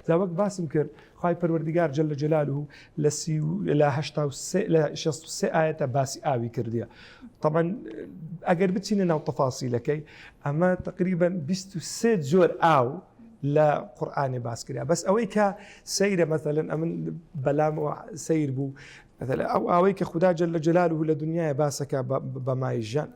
جا وەک باسم کرد خوای پەروەردگار جل جلاله لە سی و لە هەشتا و سێ لە شەست و سێ ئایەتە باسی ئاوی کردیە طبعا ئەگەر بچینە ناو تەفاسیلەکەی ئەمە تقریبا بیست و سێ جۆر ئاو لە قورآانێ باس کرا بەس ئەوەی کە سەیرە مەثلەن ئەمن بەلام سیر بوو مەسەلەن ئەو ئاوەی کە خودا جل جلاله لە دنیاە باسەکە بە مای ژان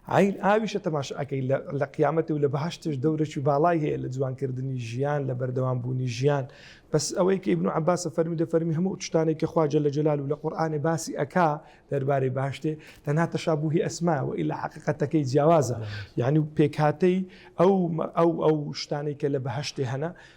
عین ئاویشە تەماشاکەی لە قیامەتی و لە بەهشتش دەورەش و باڵای هەیە لە جوانکردنی ژیان لە بەردەوام بوونی ژیان بەس ئەوەی کە ابن عباسە فەرمی دە فەرمی هەموو شتانێک کە خواجە لە جلال و لە قورآانێ باسی ئەکا دەربارەی باشتێ تەنها تەشابووی ئەسماوە ئیلا حقیقەتەکەی جیاوازە یعنی و پێکهاتەی ئەو ئەو ئەو شتانەی کە لە بەهشتێ هەنا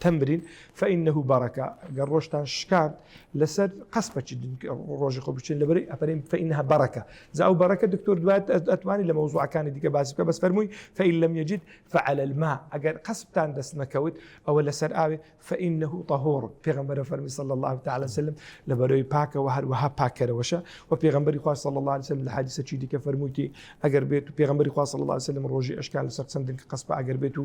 تمرین فانه برکە گەر ڕۆژتان شکاند لەسەر قەس بەچین ڕۆژی خۆ بچین لەبەری ئەپەرین فانها برکە جا ئەو بەرەکە دکتۆر دوات ئەتوانی لە مەوزوعەکانی دیکە باسی بکە بەس فەرمووی فإن لم يجد فعلى الماء ئەگەر قەسبتان دەست نەکەوت ئەوە لەسەر ئاوێ فإنه طهور پێغەمبەر فەرمی صلی الله تعالی وسلم لە بەرەوەی پاکەوە هەروەها پاکەرەوەشە و پێغەمبەری خوا صلی الله عليه وسلم لە حدیثە چی دیکە فەرموویتی ئەگەر بێت و پێغەمبەری خوا صلی الله عليه وسلم ڕۆژی ئەشکال لەسەر چەندن کە قەسبە ئەگەر بێت و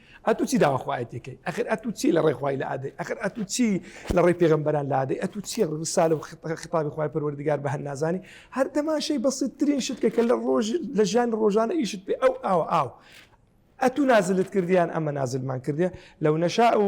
ئەتو چی داوا خوای تێکەی ئەخر ئەتو چی لە ڕێ خوای لە ئادەی ئەخر ئەتو چی لە ڕێی پێغمبەران لادەی ئەتو چی ڕسالە و خطابی خوای پەروەردگار بە هەر نازانی هەر تەماشەی بەسیتترین شت کە کە لە ڕۆژ لە ژیان ڕۆژانە ئیشت پێ ئەو ئاو ئاو ئەتو نازلت کردیان ئەمە نازلمان کردە لەو نەشا و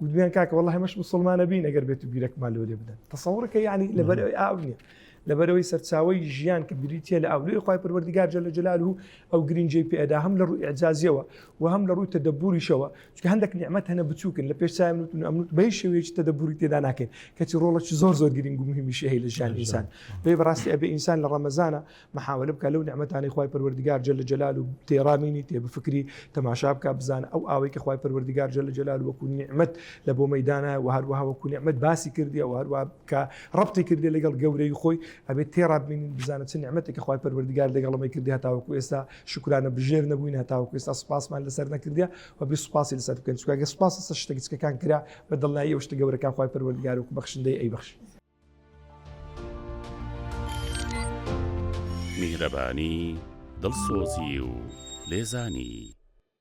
گوتبیان کاکە وەڵ هەمەش مسلمانە بین ئەگەر بێت و بیرەکمان لۆ لێ بدەن تەسەورەکە یعنی لەبەرەوەی ئاو نیە لەبەرەوەی سەرچاوی ژیان کە بریتە لە ئاولوی خی پروەردیگار جل جلال و ئەو گرنجەی پێدا هەم لە ڕووی ئەجازیەوە و هەم لە ڕووی تەدەبوریشەوە چکە هەندێک نیعممەت هەنە بچووکن لە پێش چای منوتن ئەمنوت بەی شێوەیەکی تەدەبوری تێدا ناکەین کەچی ڕۆڵەی زۆر زۆر گرنگ و مهمیشی هەیە لە ژیان ئینسان دەی بەڕاستی ئەبێ ئینسان لە ڕەمەزانە محاوەلە بکە لەو نعمەتانەی خوای پەروەردگار جل جلال و تێڕا مینی تێ بفکری تەماشا بکە بزانە ئەو ئاوەی کە خوای پەروەردگار جل جلال وەکو نعمەت لە بۆ مەدانە و هەروەها وەکو نعمەت باسی کردی و هەروە کە ڕبتی کردی لەگەڵ گەورەی خۆی ئەبێت تێڕا بینین بزانە چ نعمەتی کە خوای پەروەردگار لەگەڵەمەی کردی هەتاوەکو ئێستا شکرانە بژێر نەبووین هەتاوەکو ئێستا سپاسمان لەسەر نەکردە و بی سپاسی لەسەر بکەن چکگە سپاس سە شتە گچکەکان کرا بە دڵنایی ئەو شتە گەورەکان خوای پەروەردگار و بەخشندەی ئەی بەخشی میهرەبانی، دڵسۆزی و لێزانی.